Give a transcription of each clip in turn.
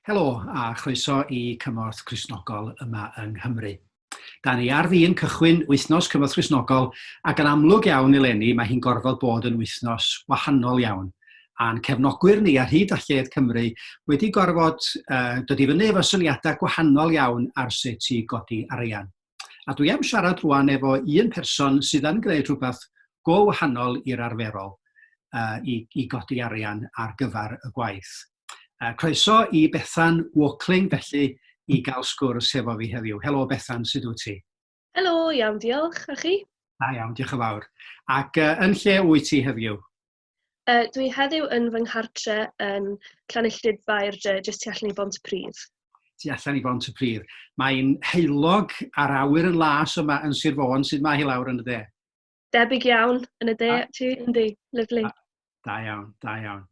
Helo a chroeso i Cymorth Cristnogol yma yng Nghymru. Da ni ar fin cychwyn wythnos Cymorth Cristnogol ac yn amlwg iawn eleni mae hi'n gorfod bod yn wythnos wahanol iawn. A'n cefnogwyr ni ar hyd a lled Cymru wedi gorfod uh, dod i fyny efo syniadau gwahanol iawn ar sut i godi arian. A dwi am siarad rwan efo un person sydd yn gwneud rhywbeth go wahanol i'r arferol uh, i, i godi arian ar gyfer y gwaith. Uh, croeso i Bethan Walkling felly i gael sgwrs hefo fi heddiw. Helo Bethan, sut wyt ti? Helo, iawn, diolch. A chi? Da iawn, diolch yn fawr. Ac uh, yn lle wyt ti heddiw? Yy dwi heddiw yn fy nghartre yn Llanilltud Baer Dre, jyst tu allan i Bont y Pridd. Tu allan i Bont y Pridd. Mae'n heulog a'r awyr yn las yma yn Sir Fôn, sydd mae hi lawr yn y de? Debyg iawn yn y de, a, ti, yndi, lyflu. Da iawn, da iawn.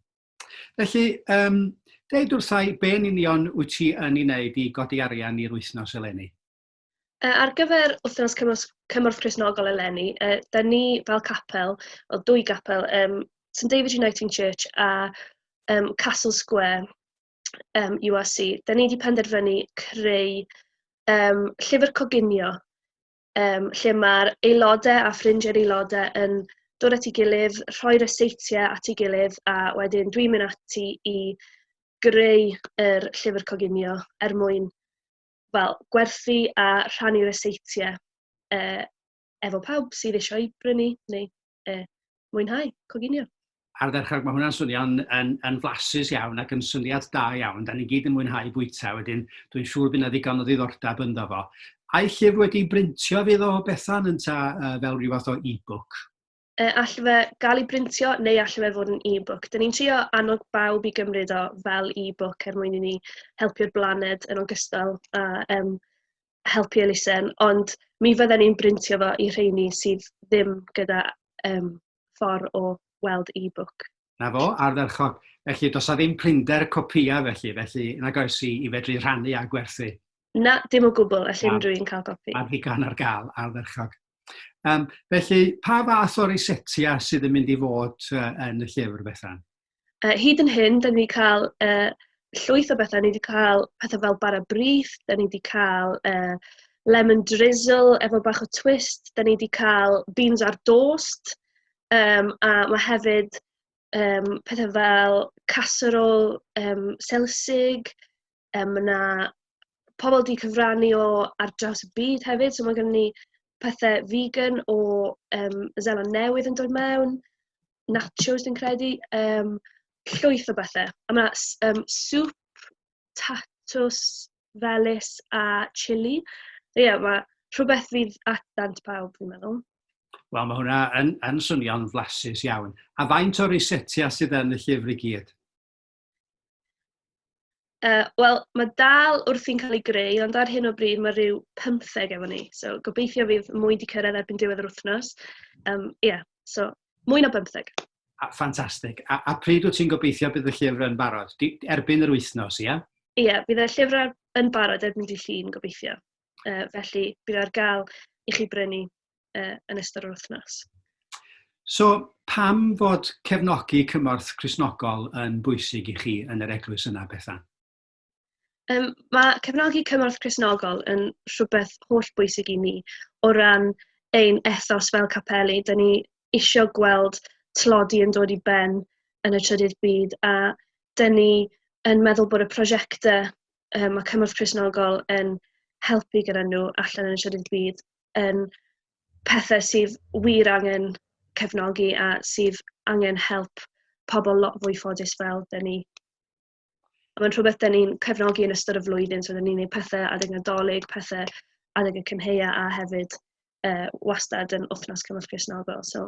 Felly, um, deud wrthau, be'n union wyt ti yn ei wneud i godi arian i'r wythnos eleni? Yy, ar gyfer wythnos cymorth, cymorth Cresnogol eleni, yy, da ni fel capel, o dwy gapel, um, St David Uniting Church a um, Castle Square um, URC, da ni wedi penderfynu creu um, llyfr coginio, um, lle mae'r aelodau a ffrindiau'r aelodau yn dod at ei gilydd, rhoi'r eseitiau at ei gilydd, a wedyn dwi'n mynd ati i greu yr llyfr coginio er mwyn wel, gwerthu a rhannu ryseitiau uh, efo pawb sydd eisiau ei brynu neu uh, mwynhau, coginio. Ar ddechrau, mae hwnna'n swnio'n yn, yn flasus iawn ac yn syniad da iawn. Da ni gyd yn mwynhau bwyta, wedyn dwi'n siŵr bydd yna ddigon o ddiddordeb ynddo fo. A'i llyfr wedi brintio fydd o Bethan yn ta uh, fel rhyw fath o e-book? E, all fe gael ei brintio neu all fe fod yn e-book. Dyn ni'n trio annog bawb i gymryd o fel e-book er mwyn i ni helpu'r blaned yn ogystal a um, helpu elusen, ond mi fydden ni'n brintio fo i rheini sydd ddim gyda um, ffordd o weld e-book. Na fo, ardderchog. Felly, does a ddim prinder copïau felly, felly nag oes i, i fedru rhannu a gwerthu. Na, dim o gwbl, all unrhyw un cael gopi. Ar ddigon ar gael, ardderchog. Um, felly, pa fath o'r isetia sydd yn mynd i fod uh, yn y llyfr, Bethan? Uh, hyd yn hyn, da ni wedi cael uh, llwyth o bethau. Ni wedi cael pethau fel bara brith, da ni wedi cael uh, lemon drizzle efo bach o twist, da ni wedi cael beans ar dost, um, a mae hefyd um, pethau fel casserole um, selsig, Um, mae yna pobl wedi cyfrannu o ar draws y byd hefyd, so mae gen ni pethau vegan o um, Zeland Newydd yn dod mewn, nachos dwi'n credu, um, llwyth o bethau. A mae yna um, sŵp, tatws, felys a chili. Ie, yeah, mae rhywbeth fydd at dant pawb, fi'n meddwl. Wel, mae hwnna yn, yn swnio'n flasus iawn. A faint o'r eisetia sydd yn y llyfr i gyd? Uh, Wel, mae dal wrthi'n cael ei greu, ond ar hyn o bryd mae rhyw 15 efo ni. So, gobeithio fydd mwy wedi cyrraedd erbyn diwedd yr wythnos. Um, yeah, so, mwy na 15. A, ffantastig. A, a pryd wyt ti'n gobeithio bydd y llyfr yn barod? Di, erbyn yr wythnos, ie? Yeah? Ie, yeah, bydd y llyfr yn barod erbyn di llun, gobeithio. Uh, felly, bydd ar gael i chi brynu uh, yn ystod yr wythnos. So, pam fod cefnogi cymorth Cresnogol yn bwysig i chi yn yr eglwys yna, Bethan? Um, mae cefnogi cymorth Cresnogol yn rhywbeth holl bwysig i ni o ran ein ethos fel capeli. Dyna ni eisiau gweld tlodi yn dod i ben yn y trydydd byd a dyn ni yn meddwl bod y prosiectau um, mae Cymorth Cresnogol yn helpu gyda nhw allan yn y trydydd byd yn pethe sydd wir angen cefnogi a sydd angen help pobl lot fwy ffodus fel 'da ni. A mae'n rhywbeth 'da ni'n cefnogi yn ystod y flwyddyn, so 'da ni'n gwneud pethe adeg Nadolig, pethe adeg y cynheia a hefyd yy wastad yn wythnos Cymorth Cristnogol. So